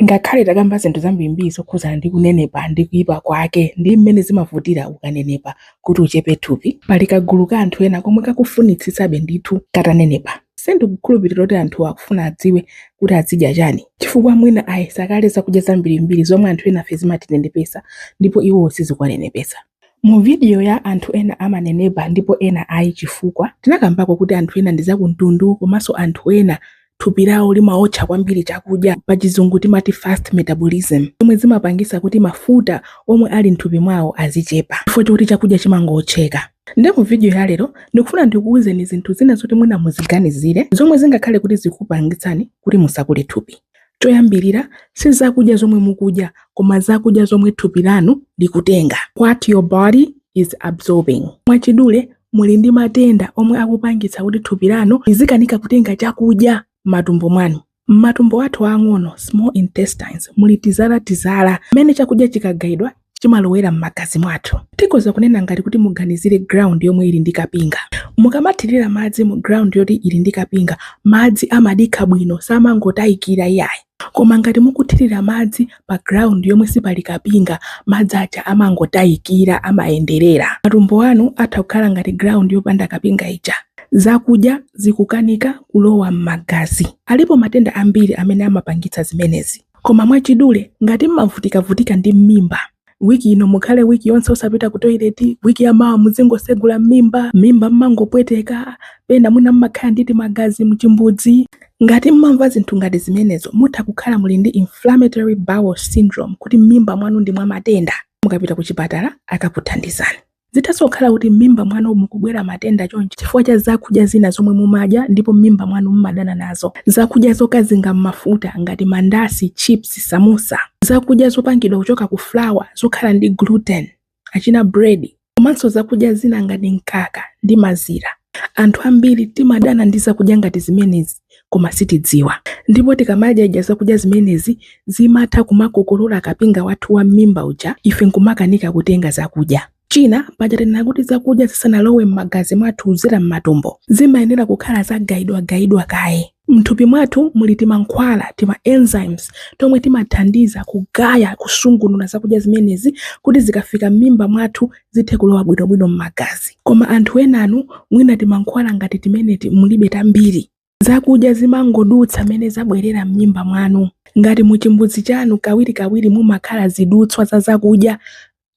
Ngakhale takamba zinthu zambirimbiri zokhudzana ndi kunenepa ndi kuipa kwake ndi mmene zimavutira ukanenepa kuti uchepe thupi, pali kagulu ka anthu ena komwe kakufunitsitsabe ndithu katanenepa. Sindikukhulupirira kuti anthu akufuna adziwe kuti azidya chani, chifukwa mwina ayesa kale zakudya zambirimbiri zomwe anthu enafe zimatinenepetsa ndipo iwowo sizikuwanenepetsa. Mu video ya anthu ena amanenepa ndipo ena ayi chifukwa, tinakambako kuti anthu ena ndi zakumtundu komanso anthu ena thupi lawo limaotcha kwambiri chakudya, pachizungu timati fast metabolism, zomwe zimapangisa kuti mafuta omwe ali mthupi mwawo azichepa chifukwa choti chakudya chimangootcheka. Nde mu video ya lero ndikufuna ndikuuzeni zinthu zina zoti mwina muziganizire zomwe zingakhale kuti zikupangitsani kuti musakule thupi. Choyambirira, si zakudya zomwe mukudya, koma zakudya zomwe thupi lanu likutenga, what your body is absorbing. Mwachidule, muli ndi matenda omwe akupangitsa kuti thupi lanu lizikanika kutenga chakudya m'matumbo mwanu. M'matumbo athu aang'ono, small intestines, muli tizala tizala mmene chakudya chikagaidwa chimalowera m'magazi mwathu. Tikhoza kunena ngati kuti muganizire ground yomwe ili ndi kapinga. Mukamathirira madzi mu ground yoti ili ndi kapinga, madzi amadikha bwino samangotayikira iyayi. Koma ngati mukuthirira madzi pa ground yomwe sipali kapinga, madzi aja amangotayikira, amayenderera. Matumbo anu atha kukhala ngati ground yopanda kapinga ija. Zakudya zikukanika kulowa m'magazi. Alipo matenda ambiri amene amapangitsa zimenezi. Koma mwachidule, ngati mmavutikavutika ndi m'mimba, wiki ino mukhale wiki yonse osapita ku toileti, wiki ya mawa muzingosegula m'mimba, m'mimba mmangopweteka, pena mwina mmakhala ndi timagazi mchimbudzi. Ngati mmamva zinthu ngati zimenezo, mutha kukhala muli ndi inflammatory bowel syndrome, kuti m'mimba mwanu ndi mwa matenda. Mukapita kuchipatala akakuthandizani. Zithanso kukhala kuti m'mimba mwanu mukubwera matenda chonchi chifukwa cha zakudya zina zomwe mumadya ndipo m'mimba mwanu mumadana nazo. Zakudya zokazinga m'mafuta ngati mandasi, chips, samusa. Zakudya zopangidwa kuchoka ku flour zokhala ndi gluten, achina bread, komanso zakudya zina ngati mkaka ndi mazira. Anthu ambiri timadana ndi zakudya ngati zimenezi. koma sitidziwa. Ndipo tikamadyadya zakudya zimenezi, zimatha kumakokolola kapinga wathu wa m'mimba uja, ife n'kumakanika kutenga zakudya. China, paja tanena kuti zakudya zisanalowe m'magazi mwathu kudzera m'matumbo, zimayenera kukhala zagayidwagayidwa kaye. M'thupi mwathu muli timankhwala, tima enzymes, tomwe timathandiza kugaya, kusungunula zakudya zimenezi kuti zikafika m'mimba mwathu zithe kulowa bwinobwino m'magazi. Koma anthu enanu mwina timankhwala ngati timeneti mulibe tambiri. Zakudya zimangodutsa mmene zabwerera m'mimba mwanu. Ngati mu chimbudzi chanu kawirikawiri mumakhala zidutswa za zakudya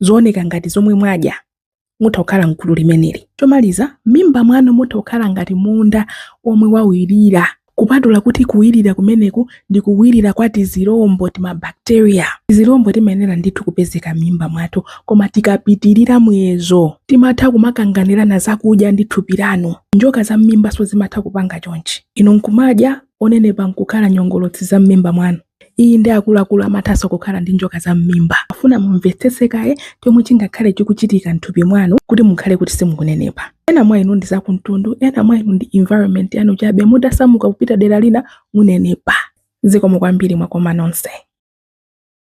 zooneka ngati zomwe mwadya, mutha kukhala m'gulu limeneli. Chomaliza, m'mimba mwanu mutha kukhala ngati munda omwe wawirira. Kupatula kuti kuwirira kumeneku ndi kuwirira kwa tizilombo, timabakteriya, tizilombo timayenera ndithu kupezeka m'mimba mwathu, koma tikapitirira muyezo timatha kumakanganirana zakudya ndi thupi lanu. Njoka za m'mimbanso zimatha kupanga chonchi, inu n'kumadya, onenepa n'kukhala nyongolotsi za m'mimba mwanu. Inde, akuluakulu amathanso kukhala ndi njoka za m'mimba. Afuna mumvetsetse kaye chomwe chingakhale chikuchitika m'thupi mwanu kuti mukhale kuti simukunenepa. Ena mwa inu ndi za kumtundu, ena mwa inu ndi environment yanu chabe, mutasamuka kupita dera lina munenepa. Zikomo kwambiri mwakoma nonse.